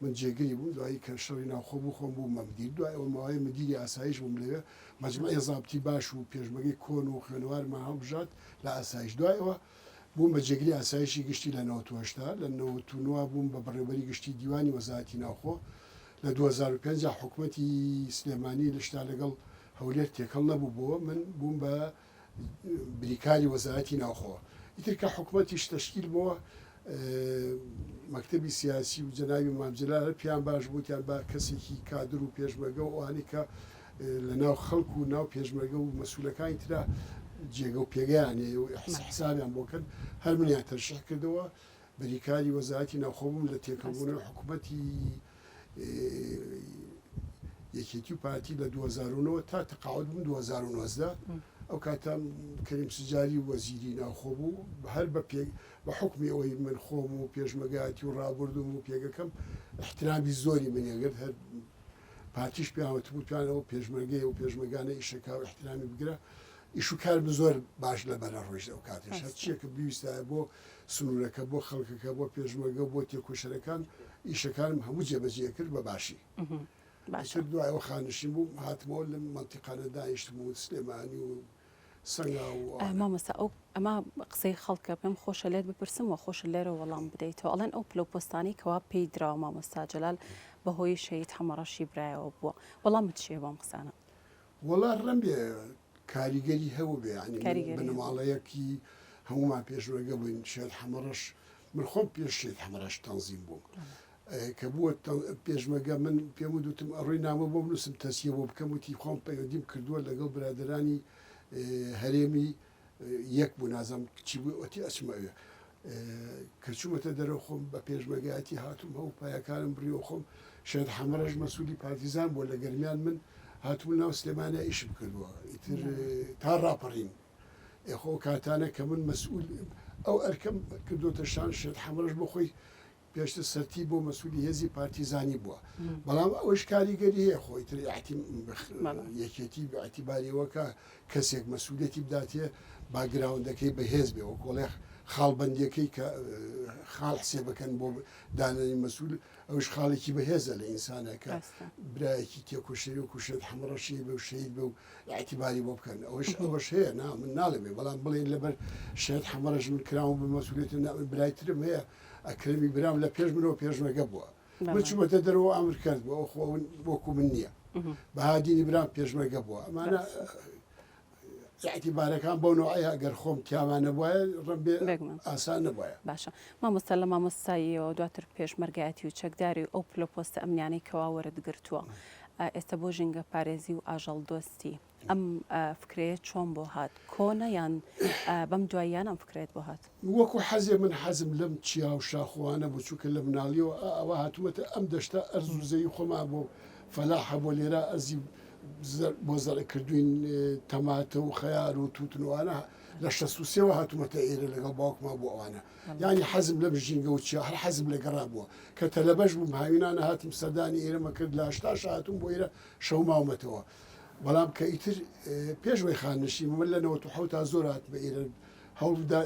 من جێگری بووم دوایی کە شەڕی ناوخۆ بوو خۆم بوومە مدیر دوای ئەوە ماوەی مدیری ئاسایش بووم لەوێ مەجموعی ضابطی باش و پێشمەرگەی کۆن و خوێنەوارمان هەڵبژارد لە ئاسایش دوای ئەوە بووم بە جێگری ئاسایشی گشتی لە نەوەد و هەشتا، لە نەوەد و نۆ بووم بە بەڕێوبەری گشتی دیوانی وەزارەتی ناوخۆ، لە دوو هەزار و پێنج حکومەتی سلێمانی لە شتا لەگەڵ هەولێر تێکەڵ نەبوو بۆ من بووم بە بریکاری وەزارەتی ناوخۆ ئیتر کە حکومەتیش تەشکیل بۆ مەکتەبی سیاسی و جەناوی مامجلال پێیان باش بوو تیان با کەسێکی کادر و پێشمەگە و ئەوانەی کە لە ناو خەڵک و ناو پێشمەرگە و مەسولەکانی ترا جێگە و پێگەیان هەیە و حسابیان بۆ کەن هەر منیان تەرشیح کردەوە بریکاری وەزارەتی ناوخۆبووم لە تێکەڵبوونەوە حکوومەتی یەکێتی و پارتی لە 2009 تا تەقاعد بووم 2009 ئەو کاتە کەریم سجاری وەزیری ناوخۆ بوو هەر بە پێ بە حکمی ئەوەی من خۆم و پێشمەگاتی و ڕابردوم و پێگەکەم احترامی زۆری منیانگرت هەر پارتیش پێیان وتبوو توانە و پێشمەرگەی و پێشمەگانە ئیشەکە و احترامی بگرە ئیش و کار بە زۆر باش لە بەرە ڕۆژ ئەو کاتێش هەر چیەکە بیویستایە بۆ سنوورەکە بۆ خەڵکەکە بۆ پێشمەگە و بۆ تێکۆشەرەکان ئیشەکانم هەموو جێبەجێ کرد بە باشی باشتر دوایەوە خانشین بووم هاتمەوە لە مەتیقانە دانیشتم و سلێمانی و سەنگاو و ئارا. مامۆستا ئەو ئەمە قسەی خەڵکە پێم خۆشە لێت بپرسم وە خۆشە لێرە وەڵام بدەیتەوە ئەڵێن ئەو پلەو پۆستانەی کەوا پێی دراوە مامۆستا جەلال بە هۆی شەهید حەمە ڕەشی برایەوە بووە وەڵامت چیە بەم قسانە؟ وەڵا ڕەنبێ کاریگەری هەبووبێ یانی من کاریگەری هەبوو. بنەماڵەیەکی هەموومان پێشمەرگە بووین شێت حەمە ڕەش من خۆم پێش شێت حەمە ڕەش تەنزیم بووم کە بووە پێشمەرگە من پێم وت وتم ئەڕۆی نامە بۆ بنووسم تەسیە بۆ بکەم وتی خۆم پەیوەندیم کردووە لەگەڵ برادەرانی هەرێمی یەک بوو نازم چی بوو ئەتی ئەچمە ئەوێ کە چوومەتە دەرەوە خۆم بە پێشمەگایەتی هاتووم هەو پایەکانم بڕیەوە خۆم شێت حەمەڕەش مەسوولی پارتیزان بۆ لە گەرمیان من هاتوو ناو سلێمانە ئیشم کردووە ئیتر تا ڕاپەڕین ئێخۆ کاتانە کە من مەسئول ئەو ئەرکەم کردوتە شان شێت حەمەڕش بۆ خۆی پێشتر سەرتیپ بۆ مەسولی هێزی پارتیزانی بوە بەڵام ئەوش کاریگەری هەیە خۆی تر یەکێتی بەعتیباریەوە کە کەسێک مەسوولەتی بداتێ باگراوندەکەی بەهێز بێ وە کۆڵێخ خاڵبندەکەی کە خاڵ حسێ بکەن بۆ دانانی مەسول ئەوش خاڵێکی بەهێزە لە ئینسانەکە برایەکی تێکوشری و کوشێت حمڕەشی بە شەید بە و ئاعتیباری بۆ بکەن ئەوش ئەوەش هەیە نا من ناڵێ بێ بەڵام بڵێن لەبەر شێت حمڕەش من کراوم بە مەسوولێتە برایترم هەیە ئەکرەمی برام لە پێش منەوە پێشمەرگە بووە من چوومەتە دەرەوە ئامر کرد بۆ ئەو خۆون وەکو من نییە بەهادینی برام پێشمەرگە بووە ئەمانە یاعتیبارەکان بۆ نوعەیە گەر خۆم تیامانە وایە ڕبێ ئاسان نەبایە باشە مامۆستا لە مامۆستاییەوە دواتر پێشمەرگایەتی و چەکداری و ئەو پلۆپۆستە ئەمنیانەی کەواوەرت گرتووە ئێستا بۆ ژینگە پارێزی و ئاژەڵ دۆستی ئەم فکرەیە چۆن بۆ هات کۆنە یان بەم دواییان ئەم فکرەیەت بۆ هات؟ وەکو حەزێ من حەزم لەم چیا و شاخوانە بوو چونکە لە مناڵیەوە ئا ئاوا هاتومەتە ئەم دەشتە ئەرز و زەوی خۆمان بۆ فەلاح هەبوە لێرە ئەرزی زەر بۆ زەرع کردوین تەماتە و خەیار و توتن و ئانا لە شەست و سێوە هاتومەتە ئێرە لەگەڵ باوکما بۆ ئەوانە یانی حەزم لەم ژینگە و چیا هەر حەزم لە گەڕا بوە کە تەلەبەش بوم هاوینانە هاتم سەردانی ئێرەمە کرد لە هەشتاشا هاتوم بۆ ئێرە شەو ماومەتەوە بەڵام کە ئیتر پێش وەی خاننشین بوو، من لە نەوەت و حەوتا زۆر هاتمە ئیرە، هەوڵم دا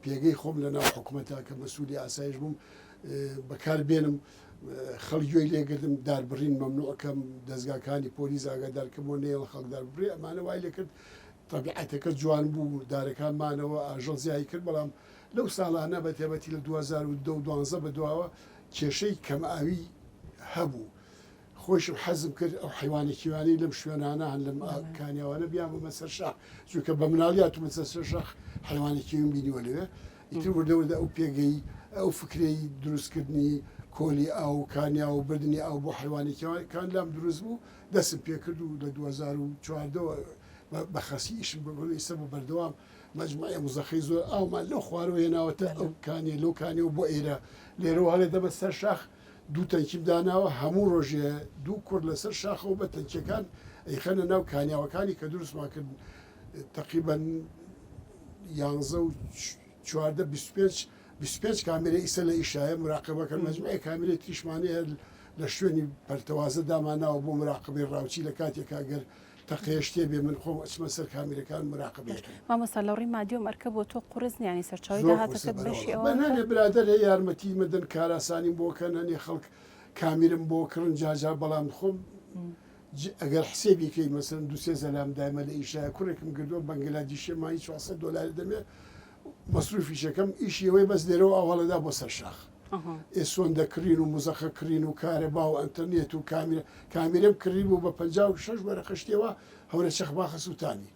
پێگەی خۆم لە ناو حکومەتا کە مەسولی ئاسایش بووم بەکار بێنم، خەڵک گوێی لێ گرتم، داربڕین مەمنوع کەم، دەزگاکانی پۆلیس ئاگادار کەم و نەیەڵ خەڵک دار ببڕێ، ئەمانە وای لێ کرد تەبیعەتەکە جوان بوو، دارەکان مانەوە، ئاژەڵ زیایی کرد، بەڵام لەو ساڵانە بە تایبەتی لە دوو هەزار و دە و دوانزە بە دواوە کێشەی کەم ئاوی هەبوو، خۆیشم حەزم کرد ئەو حەیوانە کێویانەی لەم شوێنانە هەن لەم کانیاوانە بیانبەمە سەر شاخ چونکە بە مناڵی هاتوومە سەر سەر شاخ حەیوانی کێویم بینیوە لەوێ ئیتر وردە وردە ئەو پێگەی ئەو فکرەی دروستکردنی کۆلی ئاو و کانیا و بردنی ئاو بۆ حەیوانی کێویەکان لام دروست بوو دەستم پێکرد و لە دوو هەزار و چواردە وە بە خەسی ئیشم بۆ کردو ئیستا بە بەردەوام مەجموعەیە مزەخەی زۆر ئاومان لەو خوارەوە هێناوەتە ئەو کانیە لەو کانیەوە بۆ ئێرە لێرەوە هەڵێدەمە سەر شاخ دوو تەنکیم داناوە هەموو ڕۆژێ دوو کوڕ لەسەر شاخەوە بە تەنکیەکان ئەیخەنە ناو کانیاوەکانی کە دروستمان کردن تەقریبەن یانزە و چواردە بیست و پێنج بیست و پێنج کامێرە ئیسە لە ئیشایە مراقبەکەن مەجموعی کامێرەی تریشمانەیە لە شوێنی پەرتەوازە دامانناوە بۆ مراقبەی ڕاوچی لە کاتێکا گەر تەقەیە شتێ بێ من خۆم ئەچمە سەر کامێرەکان مراقبەی باش ئەکەم. مامۆستا لە ڕووی مادی و مەرکەب و تۆ قورس نییە یانی سەرچاوەی زۆر قورسە داهاتەکەت بەشی بەرەوەڵا ئەوە بەس نانێ بکە؟ برادەر هەیە یارمەتی مەدەن کاراسانیم بۆ کە نانێ خەڵک کامیرم بۆ کڕن جا جا بەڵام خۆم ج ئەگەر حسێبی کەی مەسەلەن دوو سێ زەلام دایمە لە ئیشایە کوڕێکم گردووە بەنگلادیشیە مانگی چوار سەد دۆلاری دەمێ مەسروفیش ئەکەم ئیشی ئەوەیە بەس لێرەوە ئاو هەڵەدا بۆ سەر شاخ. ئێ سۆندە کڕین و مزەخە کڕین و کارەبا و ئەنتەرنێت و کامیرە کامیرەم کڕیبوو بە پەنجا و شەش وەرەقە شتێ وا هەورە چەخ باخە سووتانی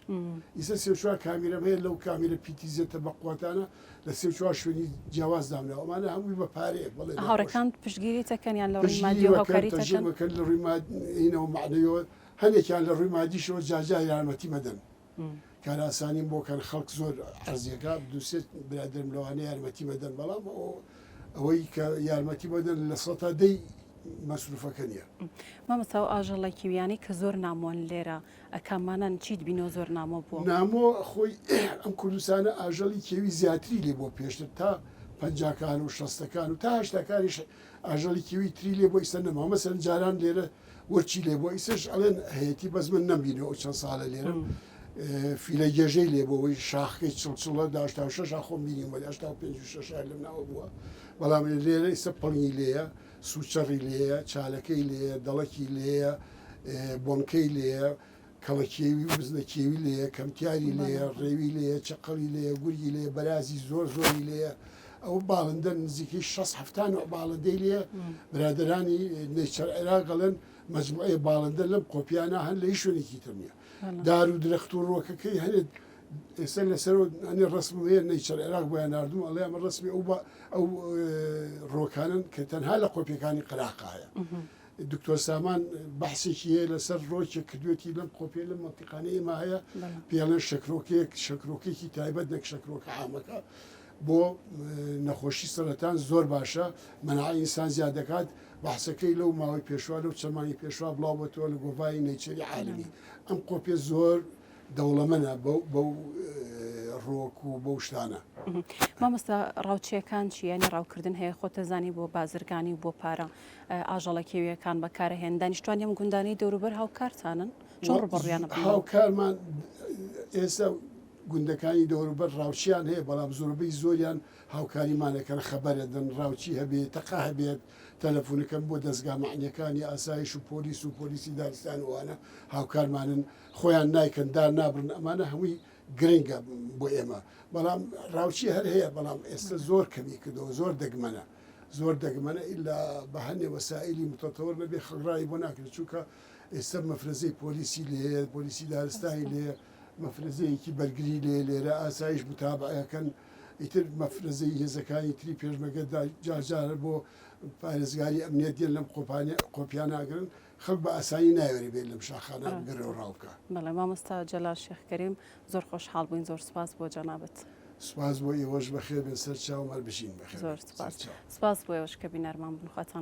ئیسە سێ و چوار کامیرەم هەیە لەو کامیرە پیتی زێتە بەقوەتانە لە سێ و چوار شوێنی جیاواز دامناوە ئەمانە هەمووی بە پارەیە بەڵێ دەخۆشم. هاوڕێکانت پشتگیریت دەکەن یان لە ڕووی پشتگیری مادیەوە وەکەن هاوکاریت تەشجیع دەکەن؟ مەکەن لە ڕووی مادیەوە مەعنەویەوە هەنێکیان لە ڕووی مادیشەوە جار جار یارمەتیمە دەن. کار ئاسانیم بۆ کەن خەڵک زۆر عەرزیەکە دوو سێ برادرم لەوانە یارمەتی بەدەن بەڵام ئەوەی کە یارمەتی بەدەن لە سەتا دەی مەسروفەکە نیە مامەسا و ئاژەڵە کیویانی کە زۆر نامۆن لێرە ئەکامانان چیت بینۆ زۆر نامۆ بوو نامۆ خۆی ئەم کوردستانە ئاژەڵی کێوی زیاتری لێ بۆ پێشتر تا پەنجاکان و شەستەکان و تاشتەکانیش ئاژەڵی کیوی تری لێ بوە ئیستا نەماوە مەسەلەن جاران لێرە ورچی لێ بوە ئیسش ئەڵێن هەیەتی بەس من نەم بینەوە ئەو چەند ساڵە لێرەم فیلە گێژەی لێ بوە وەی شاخەکەی چڵ چڵە دا هەشتا و شەش ئا خۆم بینیم وەلی هەشتا و پێنج و شەش ئا لەم ناوە بوە بەڵام لێرە ئیستا پڵنگی لێیە سوچەڕی لێیە چالەکەی لێیە دەڵەکی لێیە بۆنکەی لێیە کەڵە کێوی و بزنە کێوی لێیە، کەمتیاری لێیە، ڕێوی لێیە، چەقەڵی لێیە، گورگی لێیە، بەرازی زۆر زۆری لێیە. ئەوە باڵندە نزیکەی شەست حەفتا نەوع باڵندەی لێیە. برادەرانی نەیچەر عێراق ئەڵێن مەجموعەی باڵندە لەم قۆپیانە هەن لە هیچ شوێنێکی تر نییە. دار و درەخت و ڕووەکەکەی هەنێ ئێستا لەسەرەوە هەنێ ڕەسمم هەیە نەیچەر عێراق بۆیان ناردووم ئەڵێ ئەمە ڕەسمی ئەو ڕووەکانەن کە تەنها لە قۆپیەکانی قەراق هەیە. دکتۆر سامان بەحسێکی هەیە لەسەر ڕۆکێک کردوێتی لەم قۆپێ لەم مەنتیقانە ئێمە هەیە پێڵێن شەکرۆکێک شەکرۆکێکی تایبەت نەک شەکرۆکە عامەکە بۆ نەخۆشی سەرەتان زۆر باشە منع ئینسان زیاد دەکات بەحسەکەی لەو ماوەی پێشوا لەو چەمانی پێشوا بڵاوبەتەوە لە گۆڤاری نەیچەری عالمی ئەم قۆپێ زۆر دەوڵەمەنە بەو بەو ڕۆک و بەو شتانە. مامۆستا ڕاوچیەکان چی یانی ڕاوکردن هەیە خۆتەزانی بۆ بازرگانی و بۆ پارە ئاژەڵە کێویەکان بەکارە هێن دانیشتوان یەم گوندانەی دەوروبەر هاوکارتانن چۆن ڕوبڕیان هاوکارمان ئێستا گوندەکانی دەوروبەر ڕاوچیان هەیە بەڵام زۆربەی زۆریان هاوکاریمانەکەن خەبەرەدەن ڕاوچی هەبێ تەقا هەبێت تەلەفونەکەم بۆ دەستگا مەعنیەکانی ئاسایش و پۆلیس و پۆلیسی دارستان وانە هاوکارمانن خۆیان نایکەن دار نابڕن ئەمانە هەمووی گرنگە بۆ ئێمە بەڵام ڕاوچی هەر هەیە بەڵام ئێستا زۆر کەمی کردەوە زۆر دەگمەنە زۆر دەگمەنە ئیلا بە هەندێ وەسائلی متەتەوەر نەبێ خەڵک ڕای بۆ ناکرێت چونکە ئێستا مەفرەزەی پۆلیسی لێ هەیە پۆلیسی دارستانی لێ مەفرەزەیەکی بەرگری لێ لێرە ئاسایش متابعەکەن ئیتر مەفرەزەی هێزەکانی تری پێشمەگەدا جارجارە بۆ پارێزگاری ئەمنیەت دێن لەم قۆپانە قۆپیان ناگرن خەڵک بە ئاسانی نایەوێرێ بێت لەم شاخانە بگەڕێ و ڕاو بکا. بەڵێ مامۆستا جەلال شێخ کەریم زۆر خۆشحاڵ بووین زۆر سوپاس بۆ جەنابت. سوپاس بۆ ئێوەش بەخێر بێن سەر چاوم هەر بژین بەخێر بێن سەر چاو. سوپاس بۆ ئێوەش کە بینەرمان بوون خواتان.